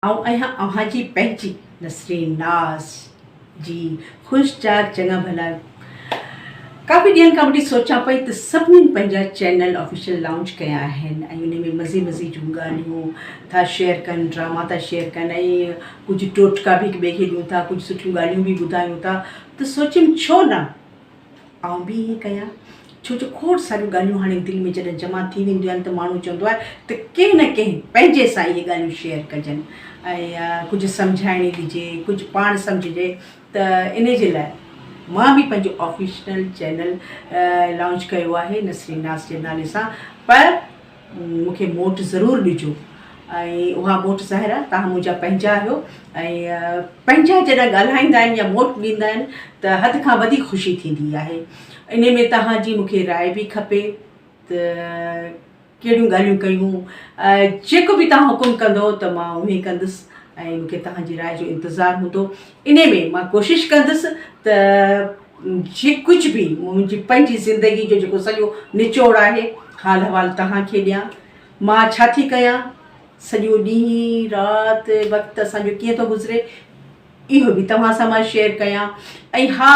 آئون آهيان اوهان جي پنهنجي. نسرين ناز، جي خوش چاڪ چڱا ڀلا. ڪافي ڏينهن کان وٺي سوچان پئي ته سڀني پنهنجا چينل آفيشل لانچ ڪيا آهن ۽ انهي ۾ مزي مزي جون ڳالهيون ٿا شيئر ڪن ڊراما ٿا شيئر ڪن ۽ ڪجهه ٽوٽڪا به هڪ ٻئي کي ڏيون ٿا ڪجهه سٺيون ڳالهيون به ٻڌايون ٿا ته سوچيم ڇو نه آئون به ائين ڪيان، ڇو جو کوڙ ساريون ڳالهيون هاڻي دل ۾ جڏهن جمع ٿي وينديون آهن ته ماڻهو چوندو آهي ته ڪنهن نه ڪنهن پنهنجي سان اهي ڳالهيون شيئر ڪجن ۽ ڪجهه سمجهائڻي ڏجي، ڪجهه پاڻ سمجهجي ته انهي جي لاء مان به پنهنجو آفيشنل چينل لانچ ڪيو آهي نسرين ناز جي نالي سان پر مون کي موٽ ضرور ڏجو ۽ اها موٽ ظاهرا توهان منهنجا پنهنجا آهيو ۽ پنهنجا جڏهن ڳالهائيندا آهن يا موٽ ڏيندا آهن ته حد کان وڌيڪ خوشي ٿيندي آهي انهي ۾ توهان جي مون کي راء به کپي ته ڪهڙيون ڳالهيون ڪيون جيڪو به توهان حڪم ڪندو ته مان اهو ئي ڪندس ۽ مون کي توهان جي راء جو انتظار هوندو انهي ۾ مان ڪوشش ڪندس ته جي ڪجهه به منهنجي پنهنجي زندگي جو جيڪو سڄو نچوڙ آهي، حال حوال توهان کي ڏيان. مان ڇا ٿي ڪيان، سڄو ڏينهن، رات، وقت اسان جو ڪيئن ٿو گذري، اهو به توهان سان مان شيئر ڪيان. ۽ ها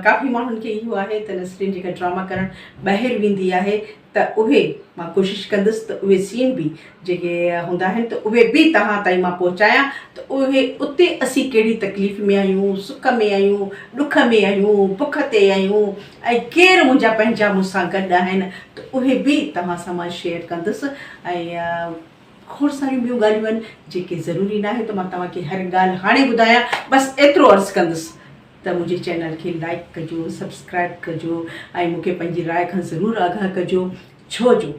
ڪافي ماڻهن کي اهو آهي ته نسرين جيڪا ڊراما ڪرڻ ٻاهر ويندي آهي، ته اهي مان ڪوشش ڪندس ته اهي سين به جيڪي هوندا آهن ته اهي به توهان تائين مان پهچايان ته اهي اتي اسين ڪهڙي تڪليف ۾ آهيون سک ۾ آهيون ڏک ۾ آهيون بک تي آهيون ۽ ڪير منهنجا پنهنجا مون سان گڏ آهن ته اهي به توهان سان مان شيئر ڪندس ۽ کوڙ ساريون ٻيون ڳالهيون آهن جيڪي ضروري ناهي ته مان توهان کي هر ڳالهه هاڻي ٻڌايان بس ايترو عرض ڪندس ته منهنجي چينل کي لائيڪ ڪجو سبسڪرائيب ڪجو ۽ مون کي پنهنجي راء کان ضرور آگاهه ڪجو ڇو جو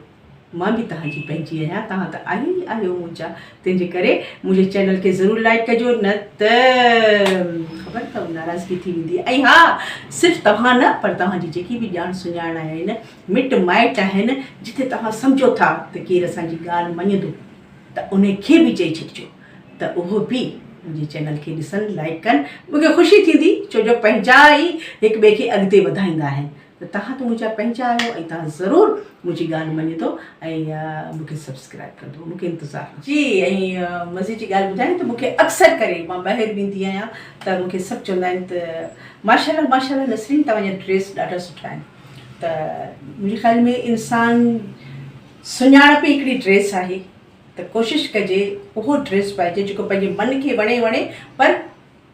مان به توهان جي پنهنجي آهيان توهان ته آهيو ئي آهيو منهنجا تنهن جي ڪري منهنجي چينل کي ضرور لائيڪ ڪجو نه ته خبر اٿو ناراضگي ٿي ويندي ۽ ها صرف توهان نه پر توهان جي جيڪي به ڄاڻ سڃاڻ آهن مٽ مائٽ آهن جتي توهان سمجهو ٿا ته ڪير اسان جي ڳالهه مڃندو ته انهي کي به چئي ڇڏجو ته اهو به منهنجي چينل کي ڏسن لائيڪ ڪن مون کي خوشي ٿيندي ڇو جو پنهنجا ئي هڪ ٻئي کي اڳتي وڌائيندا آهن ته توهان ته منهنجا پنهنجا آهيو ۽ توهان ضرور منهنجي ڳالهه مڃدو ۽ مون کي سبسڪرائيب ڪندو مون کي انتظار آهي. جي ۽ مزي جي ڳالهه ٻڌايو ته مون کي اڪثر ڪري مان ٻاهر ويندي آهيان ته مون کي سڀ چوندا آهن ته ماشاالله ماشاالله نسرين توهان جا ڊريس ڏاڍا سٺا آهن ته منهنجي خيال ۾ انسان سڃاڻپ ئي هڪڙي ڊريس آهي ته ڪوشش ڪجي اهو ڊريس پائجي جيڪو پنهنجي من کي وڻي وڻي پر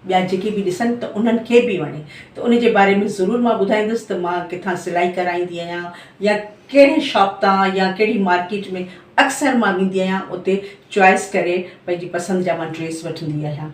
ٻيا جيڪي به ڏسن ته انهن کي به وڻي ته ان جي باري ۾ ضرور مان ٻڌائيندس ته مان ڪٿان سلائي ڪرائيندي آهيان يا ڪهڙي شاپ تان يا ڪهڙي مارڪيٽ ۾ اڪثر مان ويندي آهيان اتي چوائس ڪري پنهنجي پسند جا مان ڊريس وٺندي آهيان.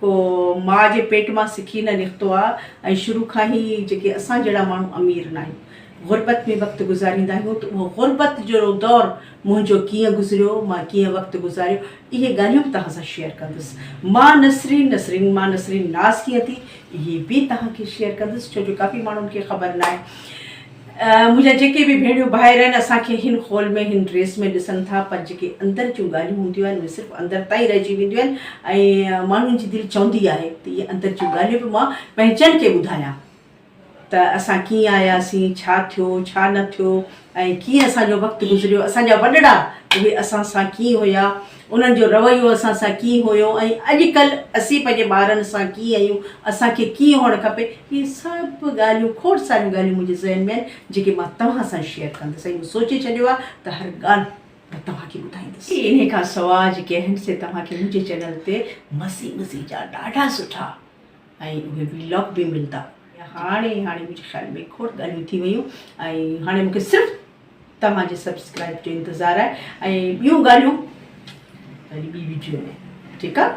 ڪو ماء جي پيٽ مان سکي نه نڪتو آ ۽ شروع کان ئي جيڪي اسان جهڙا ماڻهو امير ناهيون غربت ۾ وقت گذاريندا آهيون ته اهو غربت جو دور منهنجو ڪيئن گذريو مان ڪيئن وقت گذاريو اهي ڳالهيون به توهان سان شيئر ڪندس مان نسرين نسرين مان نسرين ناز ڪيئن ٿي اهي به توهان کي شيئر ڪندس ڇو جو ڪافي ماڻهن کي خبر ناهي منهنجا جيڪي به ڀيڻيون ڀائر آهن اسان کي هن خول ۾ هن ڊريس ۾ ڏسن ٿا پر جيڪي اندر جون ڳالهيون هونديون آهن اهي صرف اندر تائين رهجي وينديون آهن ۽ ماڻهن جي دل چوندي آهي ته اهي اندر جون ڳالهيون به مان پنهنجن کي ٻڌايان ته اسان ڪيئن آياسين ڇا ٿيو ڇا نه ٿيو ۽ ڪيئن اسان جو وقت گذريو اسان جا وڏڙا اهي اسان سان ڪيئن هيا انهن جو رويو اسان سان ڪيئن هيو ۽ اڄڪلهه اسين پنهنجي ٻارن سان ڪيئن آهيون، اسان کي ڪيئن هئڻ کپي، اهي سڀ ڳالهيون کوڙ ساريون ڳالهيون منهنجي ذهن ۾ آهن، جيڪي مان توهان سان شيئر ڪندس ۽ مون سوچي ڇڏيو آهي ته هر ڳالهه مان توهان کي ٻڌائيندس. انهي کان سواء جيڪي آهن سي توهان کي منهنجي چينل تي مزي مزي جا ڏاڍا سٺا ۽ اهي ويلاگ به ملدا. هاڻي هاڻي منهنجي خيال ۾ کوڙ ڳالهيون ٿي ويون ۽ هاڻي مون کي صرف. توهان جي سبسڪرائب جو انتظار آهي ۽ ٻيون ڳالهيون وري ٻي ويڊيو ۾ ٺيڪ آهي